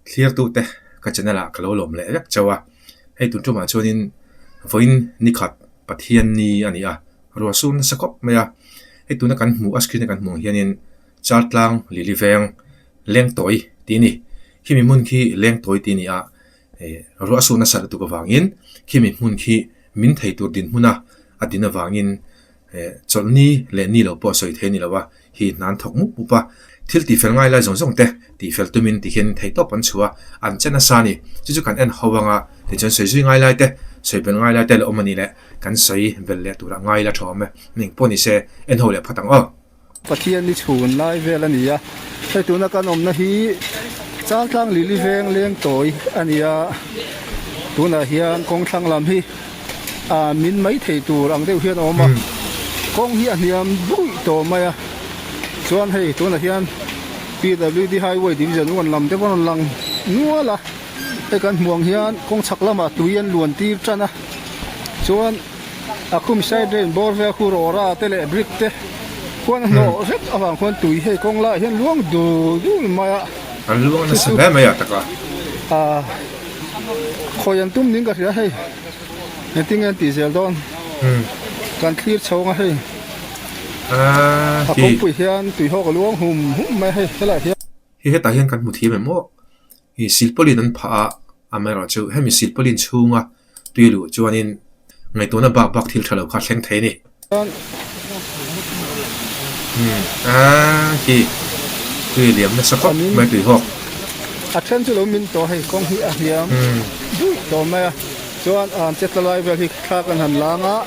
thlir tute ka channel ah ka lo lawm leh vek chauh a hei tun ṭumah chuanin vawiin nikhat pathian ni a ni a ruah sur nasa khawp mai a hei tuna kan hmuh a screen a kan hmuh ang hianin chartlang lili veng lengtawi tih a ni khimi hmun khi lengtawi tih a ni a eh ruah sur nasa lutuk avangin khimi hmun khi min thei tur dinhmun a a din avangin. He chawlh ni leh ni lo pawh sawi thei ni lo a, hi hnan thawk mup mup a, thil tihfel ngai lai zawng zawng te tihfel tumin ti hian thei tawp an chhu a, an che nasa a ni, chu chu kan en ho ang a, tichuan sawi zui ngai lai te, sawi bel ngai lai te la awm a nih leh, kan sawi bel leh turah ngai la thawm e, eng pawh ni se, en ho leh phat ang aw. Pathian ni chhun lai vel a ni a, hei tuna kan awmna hi chang tlang lili veng leng tawi a ni a, tunah hian kawng thlang lam hi ah min mai thei tur ang deuh hian a awm a, kawng hi a hniam duih tawh mai a, chuan hei tunah hian PWD highway division uan lam te pawh a rawn lang nual a, hei kan hmuh ang hian kawng chhak lamah tui an luan tir tan a, chuan. A khum side drain bawr vel khu rawra te leh brick te huan a hnawh hrep avang khuan tui hei kawng laiah hian luang dul dul mai a an luang a nasa hle mai a taka ah khawi an tum ning ka hria hei engtin nge an tih zel dawn kan thlir chho ang a hei ah hi a kawngpui hian tui hawk a luang hum hum mai a hei helaiah hian hi hetah hian kan hmu thei mai maw. I silpaulin an phah a, amaherawh chu hemi silpaulin chhunga tui luh chuanin ngaihtuahna bak bak thil tha lo kha a thleng thei a ni. A hi tui liam nasa khawp mai tui hawk. A then chu lo min tawh hei kawng hi a hliam duih tawh mai a, chuan an che tlalai vel hi thla kan han lang a,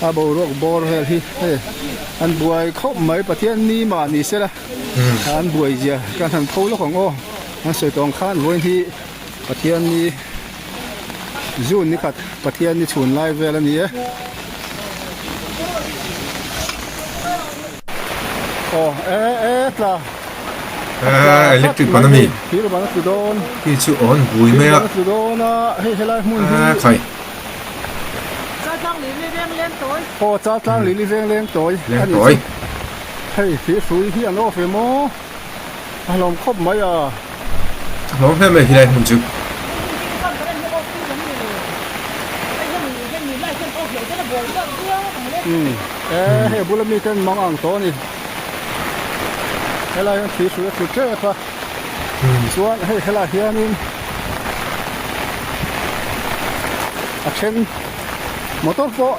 a boruak bawr vel hi hei an buai khawp mai, Pathian ni mah ni sela. An buaizia ka hna'n tho lawk ang aw, an sawi tawng khan vawiin hi Pathianni zun nikhat Pathianni chhun lai vel a ni e. Aw e e tla. Ah, electric ban a mi. Thir ban a tlu dawn. Khi chu awn bui mai a. Thir ban a tlu dawn a, hei helai hmun hi. Ah khai. Char tlang lirli vengleng tawi. Aw char tlang lirli vengleng tawi a ni chu. Hei thir hrui hi an off em aw, a hlawm khawp mai a. A hlawm hle mai helai hmun chu. Umm e hei a bula mi te an mang ang tawh a ni. Helai hian thir hrui a thut tep a. Chuan hei khel ah hian in a then motor pawh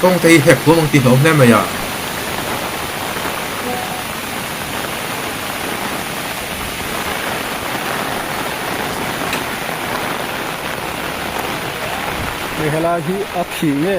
Kawng te hi hek huam ang tih hlauh hle mai a. Hei helai hi a thih nge.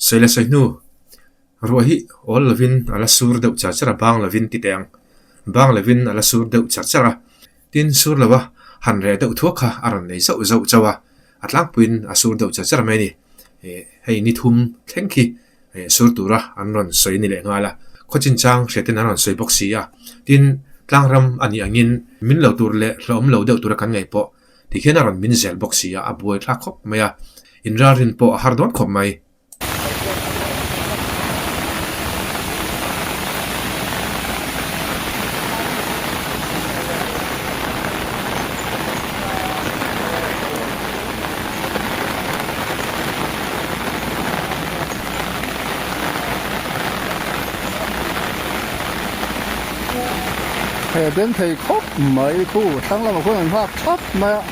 Sawi la sawi hnu, ruah hi awl lovin a la sur deuh char char a, bang lovin tih teh ang, bang lovin a la sur deuh char char a, tin sur lova han reh deuh thuak kha a rawn nei zauh zauh chauh a. a tlangpuiin a sur deuh che che reng mai a ni eh hei ni thum thleng khi eh sur tura an rawn sawi a ni leh nghal a khaw chin chang hriat ten an rawn sawi bawk si a tin tlang ram a nih ang in min lo tur leh hlawm lo deuh tura kan ngaih pawh tikhian a rawn min zel bawk si a a buai thlak khawp mai a in ralrin pawh a har dawn khawp mai. hei a den thei khawp mai khu tlâng lamah khuan an nghâk thap mai a.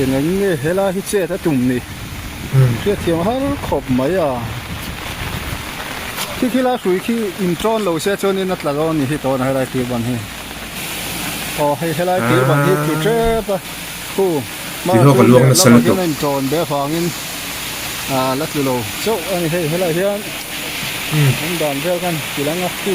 Eng nge helai hi chet a tum ni? Hriatthiam har khawp mai a. Khi khila hrui khi in tawn lo se chuan in a tla lo ni hi tawn a helai tir ban hi. Aw hei helai tir ban hi tlu tep a. Khu ma chu ner lamah hian a in tawn ber vangin a la tlu lo chauh a ni. Hei helai hian awm dan vel khan ti la nga khu.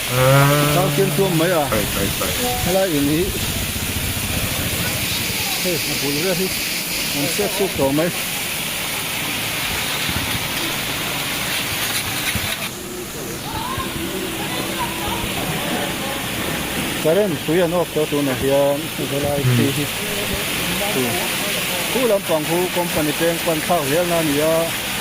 Changkian tuam mai a helai in hi hei a bul vel hi an siak suk tawh mai current hrui an off tawh tun ah hian helai khi hi chu chu lampang khu company peng pan thlak zel na a ni a.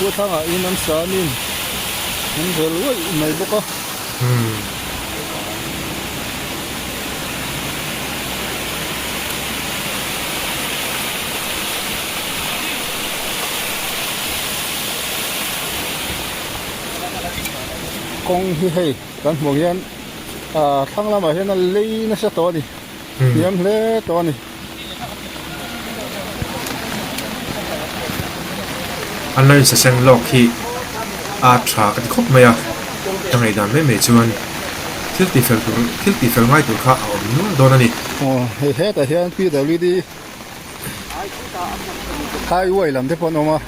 Khua thlangah in an sanin an rel ruaih mai bawk a. Kawng hi hei kan hmuh ang hian thlang lamah hian a lei nasa tawh a ni. Thiam hle tawh a ni. A lei sa seng lawk hi a tha a ti khawp mai a, a ngeidan mai mai chuan thil tihfel tur thil tihfel ngai tur kha a awm nual dawn a ni. Aw hei hetah hian PWD. Highway lam te pawh an awm a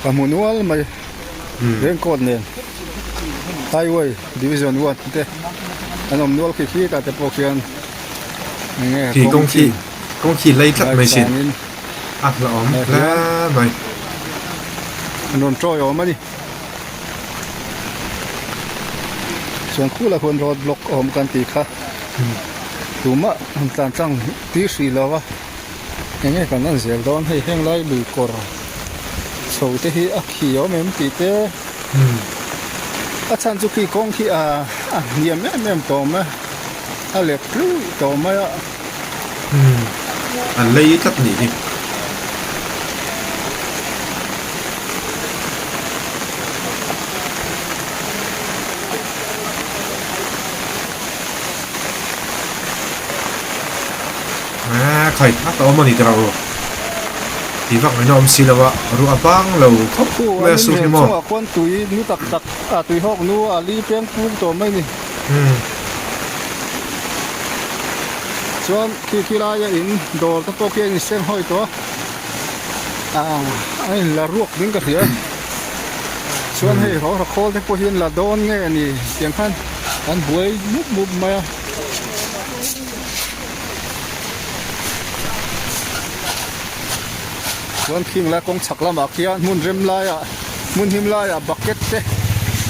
ka hmu nual mai reng court nen highway division one te an awm nual khi khi ta te pawh khian nge kawng kawng khi kawng khi lei tlat mai sin a hla awm hle mai an rawn tawih awm a ni chuan khula hun road block a awm kan tih kha tumah han tlan tlang-- tih hrih lo a eng nge kan en zel dawn hei heng lai lui kawr chho te hi a khi awm em tih te a chhan chu khi kawng khi a a hniam em em tawh mai a lek tluih tawh mai a a lei tlat nih hi Aa, khai tak a awm a ni tira ru. Ti vak mai na awm si lo a, ru a bang lo khawp mai a su hi maw? Chungah khuan tui nu tak tak, a tui hawk nu a li peng pum tawh mai ni. Umm. Chuan khi khi laia in dawr te pawh khi an insem hawi tawh a. Aa, a in la ruak ding ka hria a. Chuan hei rawng rakhawl te pawh hi an la dawn nge a ni tiang khan. an buai mup mup mai a chuan khing lai kawng chhak lamah khian hmun rem laiah hmun him laiah bucket te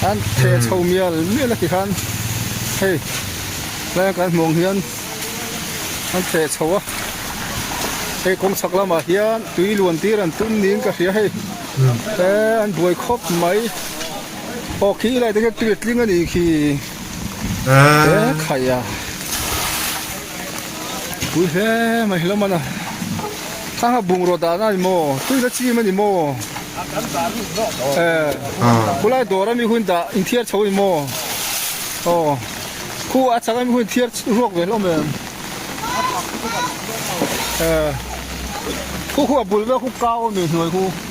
an theh chho mial mial a ti khan hei tlai a kan hmuh ang hian an theh chho a hei kawng chhak lamah hian tui luan tir an tum niin ka hria hei eee an buai khawp mai. Aw khi i laihte khian tui a tling a nih khi he khai a pui hle mai hlawm a na thlang a bungraw dan a ni maw tui la chim a ni maw e khulai dawra mi hun dah in thiar chho a ni maw aw khu a changa mi hun in thiar ruak ve hlawm em e khu khu a bul vel khu kau a mi hnuai khu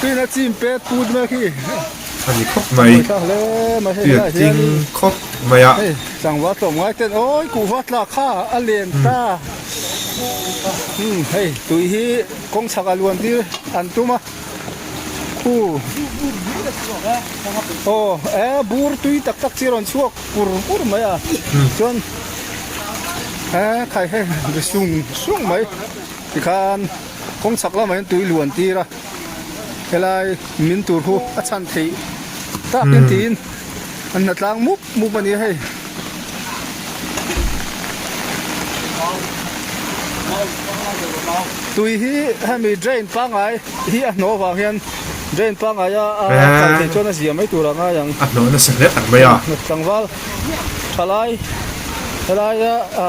Tuina chim pet put mek hi. Ani khawp mai. Tuia chim khawp mai a. Sangva tlawm ngai ten oi ku va tla kha a len ta. Hei tui hi kawng chak a luan tir an tum a. Pu. Aw e bur tui tak tak chi a rawn chhuak pur pur mai a. Chuan he khai he sung sung mai tikhan. Kawng chak lamah hian tui luan tir a, helai min tur hu a chhan theih takin tiin an hna tlang mup mup a nia hei. Tui hi hemi drain pangai hi a hnaw vang hian drain pangai a a chal theih chuan a zia mai tur a ngai ang. A hnaw nasa hle tak mai a. Tlangval thalai helaia a.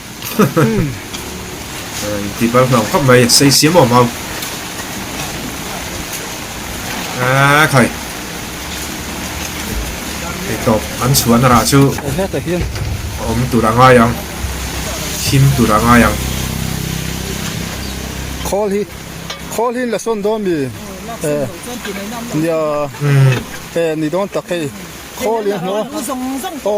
ti bal hnau khawp mai sei siam awm ho a khai hei tawp an chhuan rah chu om tur a ngai ang thim tur a ngai ang khawl hi khawl hi la son do mi e nia e ni don tak hei khawl hi hno o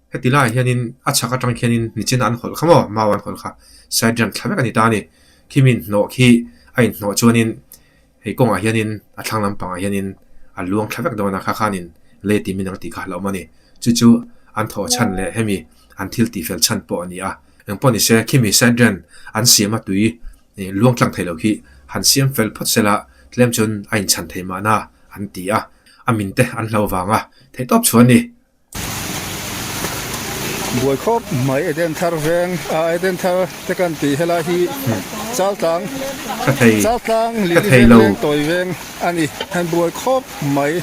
Heti laiah hianin a chhak atang khianin nichina an hawlh kha maw? Mau an hawlh kha. Sergeant thla vek a ni ta a ni. Khimin hnawh khi a inhnawh chuanin hei kawngah hianin a thlang lampangah hianin a luang thla vek dawn a, kha khanin lei timin anga tih kha a hlauhawm a ni. Chu chu an thaw chhan leh hemi an thil tih fel chhan pawh a ni a. Engpawh ni se, khimi sergeant an siama tui luang tlang theilo khi han siam fel phawt sela tlem chuan a inchhan thei mahna an ti a, a min te an hlau vanga theih tawp chhuan a ni. Buai khawp mai Eden thar veng ah Eden thar te kan tih helai hi Chaltlang Chaltlang Lili veng leng tawi veng a ni han buai khawp mai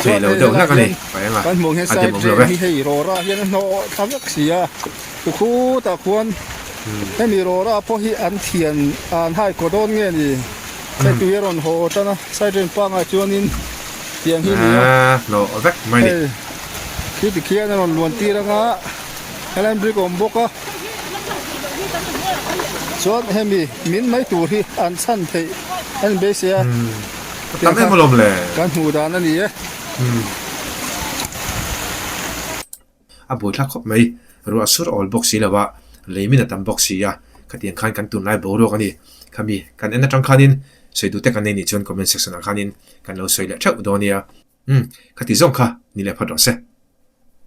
chuan hei helai hian kan hmuh ang hian side veng hi hei rawra hian a hnawh tha vek si a tlu khutah khuan hemi rawra pawh hi an thian an haihkawh dawn nge ni. Side tui a rawn haw haw tan a, side reng pangai chuanin tiang hi a ni a. Aa hlawh vek mai a ni. Hei, khi tikhian a rawn luan tir anga, helahin brick a awm bawk a. Chuan hemi min mai tur hi an chhan theih a ni beisei a. Hmm, a tam em alawm le. Kan hmuh dan a ni e. Hmm. A buaithlak khawp mai. Ruah sur awl bawk si lova, lei min a tam bawk si a, khatiang khan kan tunlai boruak a ni. Khami kan en atang khanin sawiduhte kan nei nih chuan comment section ah khanin kan lo sawi leh theuh dawn nia. Umm, khati zawng kha ni leh phawt rawh se.